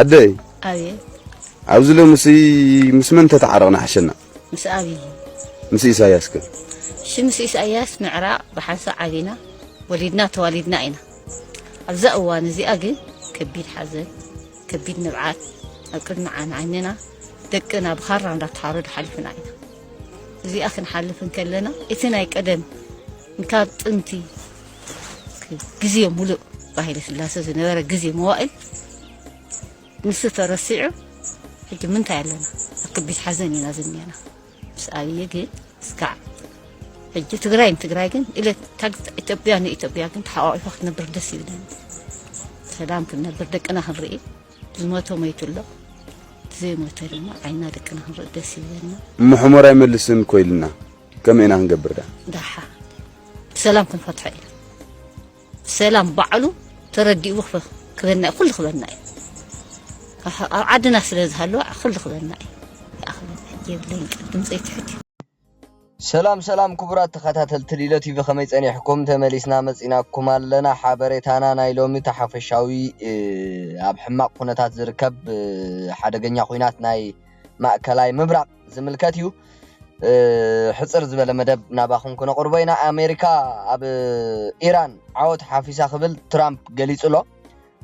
ኣደይ ኣብየ ኣብዚ ሎምሲ ምስ መን ተተዓረቕና ሓሸና ምስ ኣብይ ምስ ኢሳያስ ከ እሺ ምስ ኢሳያስ ምዕራቕ ብሓንሳ ዓቢና ወሊድና ተዋሊድና ኢና ኣብዛ እዋን እዚኣ ግን ከቢድ ሓዘን ከቢድ ንብዓት ኣብ ቅድሚ ዓይንና ደቅና ብኻራ እንዳተሓረዱ ሓሊፍና ኢና እዚኣ ክንሓልፍ እንከለና እቲ ናይ ቀደም ካብ ጥንቲ ግዜ ሙሉእ ብሃይለ ስላሰ ዝነበረ ግዜ መዋእል ንሱ ተረሲዑ ሕጂ ምንታይ ኣለና ኣብ ከቢድ ሓዘን ኢና ዝኒአና ምስ ኣብዪ ግን እስካዕ ሕጂ ትግራይ ንትግራይ ግን ኢለ ኢትዮጵያ ንኢትዮጵያ ግን ተሓቋቂፋ ክትነብር ደስ ይብለኒ ሰላም ክንነብር ደቅና ክንርኢ ዝሞተ ሞይቱ ኣሎ ዘይሞተ ድማ ዓይና ደቅና ክንርኢ ደስ ይብለና ምሕሞር ኣይመልስን ኮይልና ከመይ ኢና ክንገብር ደኣ? ደሓ ብሰላም ክንፈትሖ ኢና ብሰላም ባዕሉ ተረዲኡ ክበና እዩ ኩሉ ክበና እዩ ኣብ ዓድና ስለ ዝሃለወ ኩሉ ክበና እዩ ይኣኽለና የብለይን ቅድም ዘይትሕት እዩ ሰላም ሰላም ክቡራት ተኸታተልቲ ሊሎ ቲቪ ከመይ ጸኒሕኩም? ተመሊስና መጺናኩም ኣለና። ሓበሬታና ናይ ሎሚ እቲ ሓፈሻዊ ኣብ ሕማቕ ኩነታት ዝርከብ ሓደገኛ ኩናት ናይ ማእከላይ ምብራቕ ዝምልከት እዩ ሕጽር ዝበለ መደብ ናባኹም ክነቕርቦ ኢና ኣሜሪካ ኣብ ኢራን ዓወት ሓፊሳ ክብል ትራምፕ ገሊጹ ኣሎ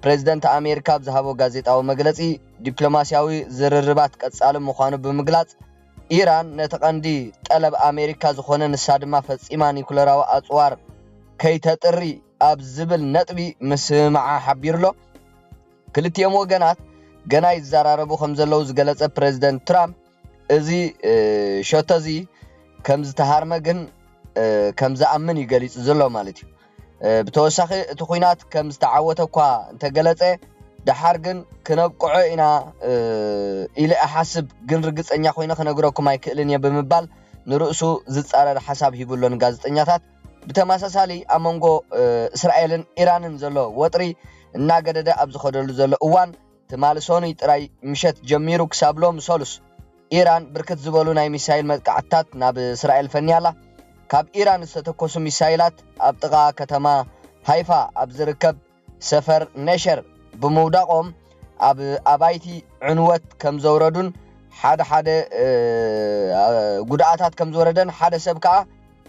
ፕሬዚደንት ኣሜሪካ ኣብ ዝሃቦ ጋዜጣዊ መግለጺ ዲፕሎማስያዊ ዝርርባት ቀጻሊ ምዃኑ ብምግላጽ ኢራን ነቲ ቀንዲ ጠለብ ኣሜሪካ ዝኾነ ንሳ ድማ ፈጺማ ኒኩለራዊ ኣጽዋር ከይተጥሪ ኣብ ዝብል ነጥቢ ምስምምዓ ሓቢሩ ኣሎ። ክልቲኦም ወገናት ገና ይዘራረቡ ከምዘለዉ ዝገለጸ ፕረዚደንት ትራምፕ፣ እዚ ሸቶ'ዚ ከምዝተሃርመ ግን ከምዝኣምን እዩ ገሊጹ ዘሎ ማለት'ዩ። ብተወሳኺ እቲ ኲናት ከምዝተዓወተ'ኳ እንተገለጸ፣ ደሓር ግን ክነብቅዖ ኢና ኢለ እሓስብ ግን ርግጸኛ ኰይነ ክነግረኩም ኣይክእልን እየ ብምባል ንርእሱ ዝጻረር ሓሳብ ሂቡ'ሎ ንጋዜጠኛታት። ብተመሳሳሊ ኣብ መንጎ እስራኤልን ኢራንን ዘሎ ወጥሪ እናገደደ ኣብ ዝኸደሉ ዘሎ እዋን ትማሊ ሰኑይ ጥራይ ምሸት ጀሚሩ ክሳብ ሎሚ ሰሉስ ኢራን ብርክት ዝበሉ ናይ ሚሳይል መጥቃዕትታት ናብ እስራኤል ፈንያ ኣላ። ካብ ኢራን ዝተተኮሱ ሚሳይላት ኣብ ጥቓ ከተማ ሃይፋ ኣብ ዝርከብ ሰፈር ነሸር ብምውዳቖም ኣብ ኣባይቲ ዕንወት ከምዘውረዱን ሓደ ሓደ ጉድኣታት ከምዝወረደን ሓደ ሰብ ከኣ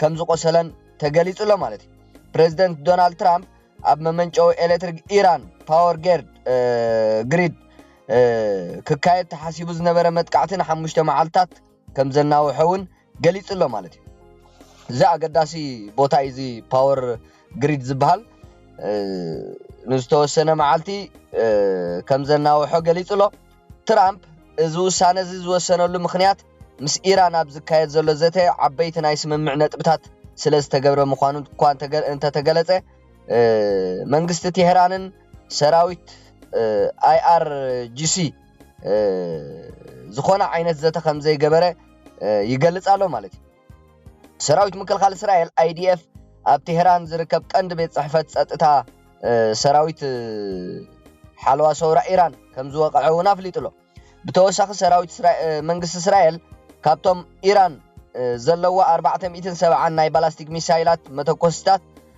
ከምዝቖሰለን ተገሊጹ ኣሎ ማለት እዩ። ፕረዚደንት ዶናልድ ትራምፕ ኣብ መመንጨዊ ኤሌክትሪክ ኢራን ፓወር ጌርድ ግሪድ ክካየድ ተሓሲቡ ዝነበረ መጥቃዕቲ ንሓሙሽተ መዓልትታት ከምዘናውሐ እውን ገሊጹ ኣሎ ማለት እዩ። እዚ ኣገዳሲ ቦታ እዩ እዚ ፓወር ግሪድ ዝበሃል ንዝተወሰነ መዓልቲ ከም ዘናውሖ ገሊጹ ኣሎ። ትራምፕ እዚ ውሳነ እዚ ዝወሰነሉ ምኽንያት ምስ ኢራን ኣብ ዝካየድ ዘሎ ዘተ ዓበይቲ ናይ ስምምዕ ነጥብታት ስለ ዝተገብረ ምዃኑ እኳ እንተተገለጸ መንግስቲ ቴህራንን ሰራዊት ኣይኣርጂሲ ዝኾነ ዓይነት ዘተ ከም ዘይገበረ ይገልጽ ኣሎ ማለት እዩ። ሰራዊት ምክልኻል እስራኤል ኣይዲኤፍ ኣብ ቴህራን ዝርከብ ቀንዲ ቤት ጽሕፈት ጸጥታ ሰራዊት ሓለዋ ሰውራ ኢራን ከም ዝወቕዐ እውን ኣፍሊጡ ኣሎ። ብተወሳኺ ሰራዊት መንግስቲ እስራኤል ካብቶም ኢራን ዘለዎ 470 ናይ ባላስቲክ ሚሳይላት መተኮስታት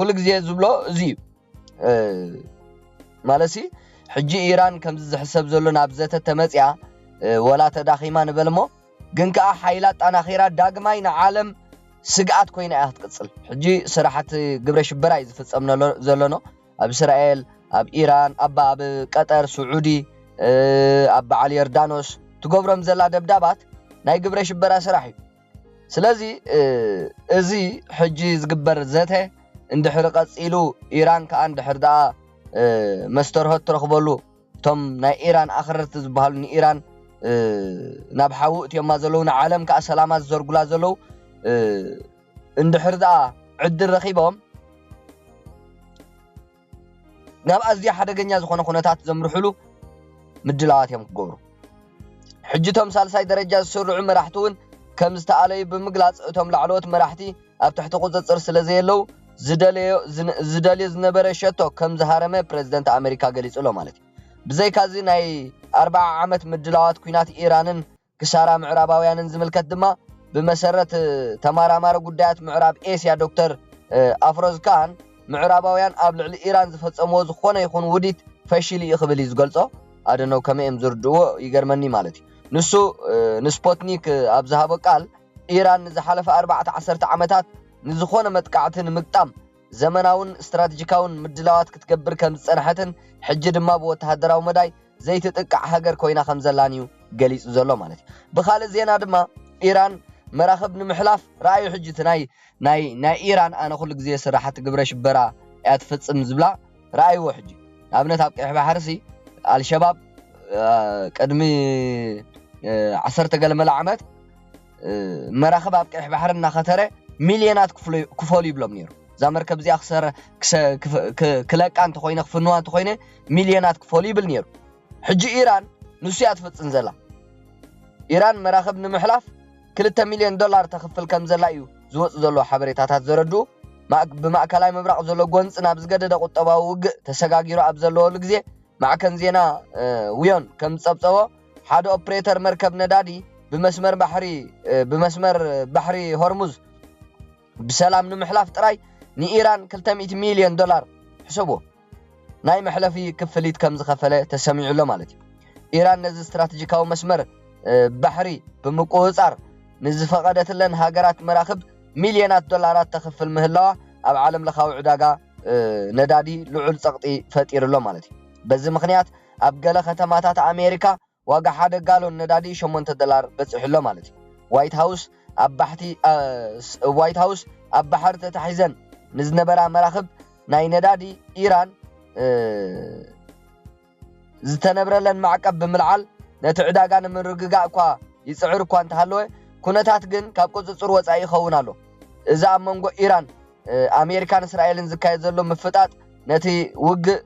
ኩሉ ግዜ ዝብሎ እዚ እዩ ማለሲ ሕጂ ኢራን ከምዚ ዝሕሰብ ዘሎ ናብ ዘተ ተመፅያ ወላ ተዳኺማ ንበል እሞ ግን ከዓ ሓይላ ኣጣናኺራ ዳግማይ ንዓለም ስግኣት ኮይና እያ ክትቅፅል ሕጂ ስራሕቲ ግብረ ሽበራ እዩ ዝፍፀም ዘሎኖ ኣብ እስራኤል ኣብ ኢራን ኣባ ኣብ ቀጠር ስዑዲ ኣብ በዓል ዮርዳኖስ ትገብሮም ዘላ ደብዳባት ናይ ግብረ ሽበራ ስራሕ እዩ ስለዚ እዚ ሕጂ ዝግበር ዘተ እንድሕሪ ቀጺሉ ኢራን ከኣ እንድሕር ደኣ መስተርሆት ትረኽበሉ እቶም ናይ ኢራን ኣኽረርቲ ዝበሃሉ ንኢራን ናብ ሓዊ እትዮማ ዘለዉ ንዓለም ከኣ ሰላማ ዝዘርጉላ ዘለዉ እንድሕር ደኣ ዕድል ረኺቦም ናብ ኣዝዩ ሓደገኛ ዝኾነ ኩነታት ዘምርሑሉ ምድላዋት እዮም ክገብሩ። ሕጂ እቶም ሳልሳይ ደረጃ ዝስርዑ መራሕቲ እውን ከም ዝተኣለዩ ብምግላጽ እቶም ላዕለዎት መራሕቲ ኣብ ትሕቲ ቁጽጽር ስለ ዘየለዉ ዝደለዮ ዝደልዮ ዝነበረ ሸቶ ከም ዝሃረመ ፕረዚደንት ኣመሪካ ገሊጹ ኣሎ ማለት እዩ። ብዘይካዚ ናይ ኣርብዓ ዓመት ምድላዋት ኲናት ኢራንን ክሳራ ምዕራባውያንን ዝምልከት ድማ ብመሰረት ተማራማሪ ጉዳያት ምዕራብ ኤስያ ዶክተር ኣፍሮዝ ካን ምዕራባውያን ኣብ ልዕሊ ኢራን ዝፈጸምዎ ዝኾነ ይኹን ውዲት ፈሺሉ እዩ ክብል እዩ ዝገልጾ። ኣደነው ከመይ እዮም ዝርድእዎ ይገርመኒ ማለት እዩ። ንሱ ንስፖትኒክ ኣብ ዝሃቦ ቃል ኢራን ንዝሓለፈ ኣርባዕተ ዓሰርተ ዓመታት ንዝኾነ መጥቃዕቲ ንምግጣም ዘመናውን ስትራትጂካውን ምድላዋት ክትገብር ከም ዝጸንሐትን ሕጂ ድማ ብወተሃደራዊ መዳይ ዘይትጥቃዕ ሃገር ኮይና ከም ዘላን እዩ ገሊጹ ዘሎ ማለት እዩ። ብኻልእ ዜና ድማ ኢራን መራኽብ ንምሕላፍ ረኣዩ ሕጂ እቲ ናይ ናይ ናይ ኢራን ኣነ ኩሉ ግዜ ስራሓቲ ግብረ ሽበራ እያ ትፍጽም ዝብላ ረኣይዎ ሕጂ ንኣብነት ኣብ ቀይሕ ባሕርሲ ኣልሸባብ ቅድሚ ዓሰርተ ገለ መለ ዓመት መራኽብ ኣብ ቀይሕ ባሕሪ እናኸተረ ሚልዮናት ክፈሉ ይብሎም ነይሩ እዛ መርከብ እዚኣ ክለቃ እንተኾይነ ክፍንዋ እንተኾይነ ሚልዮናት ክፈሉ ይብል ነይሩ ሕጂ ኢራን ንሱ እያ ትፍፅን ዘላ ኢራን መራኽብ ንምሕላፍ ክልተ ሚልዮን ዶላር ተኽፍል ከም ዘላ እዩ ዝወፁ ዘለዎ ሓበሬታታት ዘረድኡ ብማእከላይ ምብራቕ ዘሎ ጎንፂ ናብ ዝገደደ ቁጠባዊ ውግእ ተሰጋጊሩ ኣብ ዘለወሉ ግዜ ማዕከን ዜና ውዮን ከም ዝፀብፀቦ ሓደ ኦፕሬተር መርከብ ነዳዲ ብመስመር ባሕሪ ብመስመር ባሕሪ ሆርሙዝ ብሰላም ንምሕላፍ ጥራይ ንኢራን ክልተ ሚእቲ ሚልዮን ዶላር፣ ሕሰብዎ፣ ናይ መሕለፊ ክፍሊት ከም ዝኸፈለ ተሰሚዑ ኣሎ ማለት እዩ። ኢራን ነዚ ስትራተጂካዊ መስመር ባሕሪ ብምቁጽጻር ንዝፈቐደትለን ሃገራት መራኽብ ሚልዮናት ዶላራት ተኽፍል ምህላዋ ኣብ ዓለምለኻዊ ዕዳጋ ነዳዲ ልዑል ጸቕጢ ፈጢሩ ኣሎ ማለት እዩ። በዚ ምኽንያት ኣብ ገለ ከተማታት ኣሜሪካ ዋጋ ሓደ ጋሎን ነዳዲ ሸሞንተ ዶላር በጺሑ'ሎ ማለት እዩ። ዋይት ሃውስ ኣብ ባሕቲ ዋይት ሃውስ ኣብ ባሕሪ ተታሒዘን ንዝነበራ መራኽብ ናይ ነዳዲ ኢራን ዝተነብረለን ማዕቀብ ብምልዓል ነቲ ዕዳጋ ንምርግጋእ እኳ ይጽዕር እኳ እንተሃለወ ኩነታት ግን ካብ ቁጽጽር ወጻኢ ይኸውን ኣሎ። እዚ ኣብ መንጎ ኢራን፣ ኣሜሪካን እስራኤልን ዝካየድ ዘሎ ምፍጣጥ ነቲ ውግእ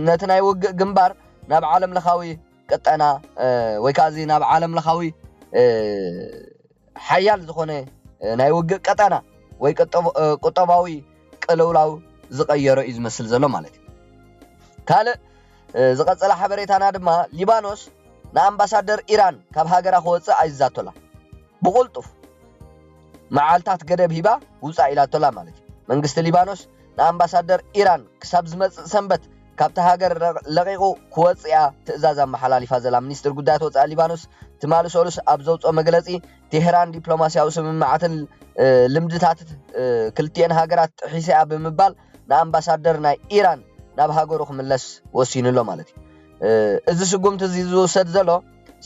ነቲ ናይ ውግእ ግንባር ናብ ዓለም ለኻዊ ቅጠና ወይ ከዓ እዚ ናብ ዓለም ለኻዊ ሓያል ዝኾነ ናይ ውግእ ቀጠና ወይ ቁጠባዊ ቅልውላው ዝቐየሮ እዩ ዝመስል ዘሎ ማለት እዩ ካልእ ዝቐፀለ ሓበሬታና ድማ ሊባኖስ ንኣምባሳደር ኢራን ካብ ሃገራ ክወፅእ ኣይዛቶላ ብቑልጡፍ መዓልታት ገደብ ሂባ ውፃእ ኢላቶላ ማለት እዩ መንግስቲ ሊባኖስ ንኣምባሳደር ኢራን ክሳብ ዝመጽእ ሰንበት ካብታ ሃገር ለቒቑ ክወጽእ'ያ ትእዛዝ ኣመሓላሊፋ ዘላ ሚኒስትሪ ጉዳያት ወጻኢ ሊባኖስ ትማሊ ሰሉስ ኣብ ዘውጽኦ መግለጺ፣ ቴህራን ዲፕሎማስያዊ ስምምዓትን ልምድታት ክልቲኤን ሃገራት ጥሒሳ'ያ ብምባል ንኣምባሳደር ናይ ኢራን ናብ ሃገሩ ክምለስ ወሲኑ'ሎ ማለት'ዩ። እዚ ስጉምቲ'ዚ ዝውሰድ ዘሎ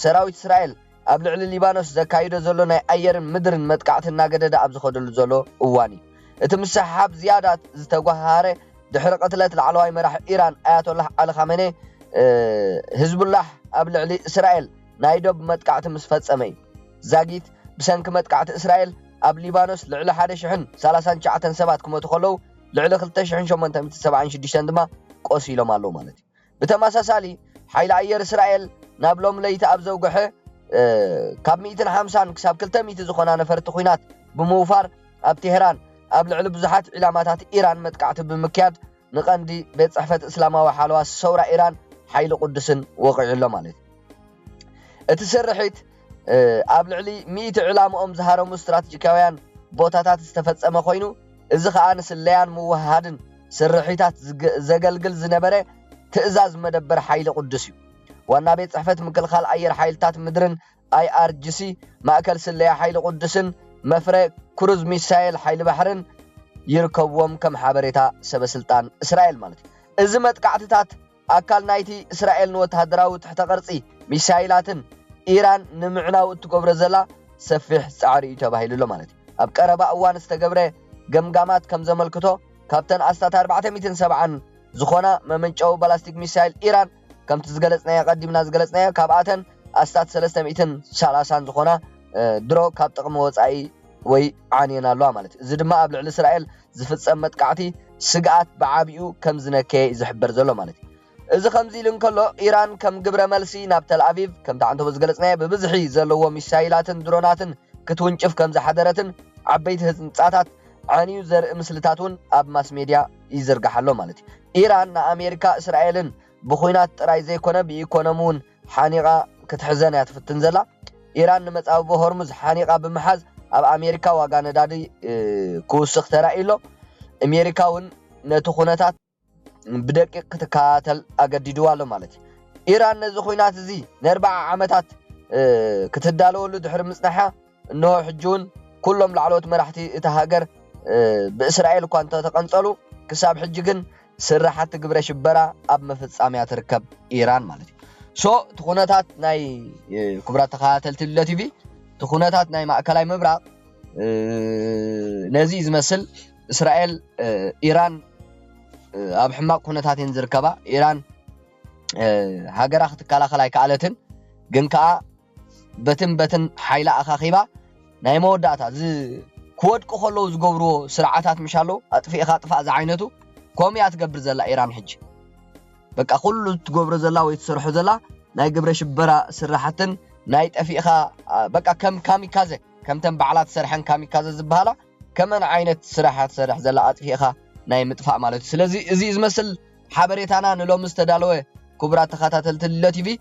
ሰራዊት እስራኤል ኣብ ልዕሊ ሊባኖስ ዘካይዶ ዘሎ ናይ ኣየርን ምድርን መጥቃዕቲ እናገደደ ኣብ ዝኸደሉ ዘሎ እዋን እዩ እቲ ምስሕሓብ ዝያዳ ዝተጓሃሃረ፣ ድሕሪ ቅትለት ላዕለዋይ መራሒ ኢራን ኣያቶላህ ዓሊ ኻመኔ፣ ህዝቡላህ ኣብ ልዕሊ እስራኤል ናይ ዶብ መጥቃዕቲ ምስ ፈጸመ እዩ። ዛጊት ብሰንኪ መጥቃዕቲ እስራኤል ኣብ ሊባኖስ ልዕሊ ሓደ ሽሕን ሰላሳን ትሽዓተን ሰባት ክሞቱ ከለዉ፣ ልዕሊ ክልተ ሽሕን ሸሞንተ ሚእትን ሰብዓን ሽዱሽተን ድማ ቆሲሎም ኣለዉ ማለት እዩ። ብተመሳሳሊ፣ ሓይሊ ኣየር እስራኤል ናብ ሎሚ ለይቲ ኣብ ዘውግሐ ካብ ሚእትን ሓምሳን ክሳብ ክልተ ሚእቲ ዝኾና ነፈርቲ ኲናት ብምውፋር ኣብ ቴህራን ኣብ ልዕሊ ብዙሓት ዒላማታት ኢራን መጥቃዕቲ ብምክያድ ንቀንዲ ቤት ጽሕፈት እስላማዊ ሓለዋ ሰውራ ኢራን ሓይሊ ቁድስን ወቒዑ ኣሎ ማለት እዩ። እቲ ስርሒት ኣብ ልዕሊ ሚእቲ ዕላምኦም ዝሃረሙ ስትራትጂካውያን ቦታታት ዝተፈጸመ ኮይኑ፣ እዚ ከኣ ንስለያን ምውህሃድን ስርሒታት ዘገልግል ዝነበረ ትእዛዝ መደበር ሓይሊ ቁዱስ እዩ። ዋና ቤት ጽሕፈት ምክልኻል ኣየር ሓይልታት ምድርን፣ IRGC፣ ማእከል ስለያ ሓይሊ ቁዱስን መፍረ ክሩዝ ሚሳይል ሓይሊ ባሕርን ይርከብዎም ከም ሓበሬታ ሰበስልጣን እስራኤል ማለት እዩ። እዚ መጥቃዕትታት ኣካል ናይቲ እስራኤል ንወተሃደራዊ ትሕተ-ቅርጺ ሚሳይላትን ኢራን ንምዕናው እትገብሮ ዘላ ሰፊሕ ጻዕሪ እዩ ተባሂሉ ኣሎ ማለት እዩ። ኣብ ቀረባ እዋን ዝተገብረ ገምጋማት ከም ዘመልክቶ፣ ካብተን ኣስታት ኣርባዕተ ሚእትን ሰብዓን ዝኾና መመንጨዊ ባላስቲክ ሚሳይል ኢራን፣ ከምቲ ዝገለጽናዮ ኣቐዲምና ዝገለጽናዮ፣ ካብኣተን ኣስታት ሰለስተ ሚእትን ሰላሳን ዝኾና ድሮ ካብ ጥቕሚ ወጻኢ ወይ ዓንየን ኣለዋ ማለት እዩ። እዚ ድማ ኣብ ልዕሊ እስራኤል ዝፍጸም መጥቃዕቲ ስግኣት ብዓቢኡ ከም ዝነከየ'ዩ ዝሕበር ዘሎ ማለት እዩ። እዚ ከምዚ ኢሉ እንከሎ፣ ኢራን ከም ግብረ መልሲ ናብ ተልኣቪቭ፣ ከምቲ ዓንተቦ ዝገለጽናዮ ብብዝሒ ዘለዎ ሚሳይላትን ድሮናትን ክትውንጭፍ ከም ዝሓደረትን ዓበይቲ ህንጻታት ዓንዩ ዘርኢ ምስልታት'ውን ኣብ ማስሜድያ ይዝርጋሕ ኣሎ ማለት እዩ። ኢራን ንኣሜሪካ እስራኤልን ብኲናት ጥራይ ዘይኮነ ብኢኮኖሚ'ውን ሓኒቓ ክትሕዘን እያ ትፍትን ዘላ። ኢራን ንመጻብቦ ሆርሙዝ ሓኒቓ ብምሓዝ ኣብ ኣሜሪካ ዋጋ ነዳዲ ክውስኽ ተራእዩ ኣሎ። ኣሜሪካ እውን ነቲ ኩነታት ብደቂቕ ክትከታተል ኣገዲድዋ ኣሎ ማለት እዩ። ኢራን ነዚ ኹናት እዚ ንኣርብዓ ዓመታት ክትዳለወሉ ድሕሪ ምጽናሓ እነሆ ሕጂ'ውን ኩሎም ላዕለዎት መራሕቲ እታ ሃገር ብእስራኤል እኳ እንተተቐንጸሉ፣ ክሳብ ሕጂ ግን ስራሓቲ ግብረ ሽበራ ኣብ ምፍጻም እያ ትርከብ፣ ኢራን ማለት እዩ። ሶ እቲ ኩነታት ናይ ክቡራት ተኸታተልቲ ልለ ቲቪ እቲ ኩነታት ናይ ማእከላይ ምብራቕ ነዚ ዝመስል እስራኤል ኢራን ኣብ ሕማቕ ኩነታት እየን ዝርከባ ኢራን ሃገራ ክትከላኸል ኣይከኣለትን ግን ከዓ በትን በትን ሓይላ ኣኻኺባ ናይ መወዳእታ እዚ ክወድቁ ከለዉ ዝገብርዎ ስርዓታት ምሽ ኣለዉ ኣጥፊእኻ ጥፋእ ዝዓይነቱ ከምኡ እያ ትገብር ዘላ ኢራን ሕጂ በቃ ኩሉ ትገብሮ ዘላ ወይ ትሰርሖ ዘላ ናይ ግብረ ሽበራ ስራሕትን ናይ ጠፊእኻ በቃ ከም ካሚካዘ ከምተን ባዕላ ትሰርሐን ካሚካዘ ዝበሃላ ከመን ዓይነት ስራሕ እያ ትሰርሕ ዘላ ኣጥፊእኻ ናይ ምጥፋእ ማለት እዩ ስለዚ እዚ ዝመስል ሓበሬታና ንሎሚ ዝተዳለወ ክቡራት ተኸታተልቲ ልሎ ቲቪ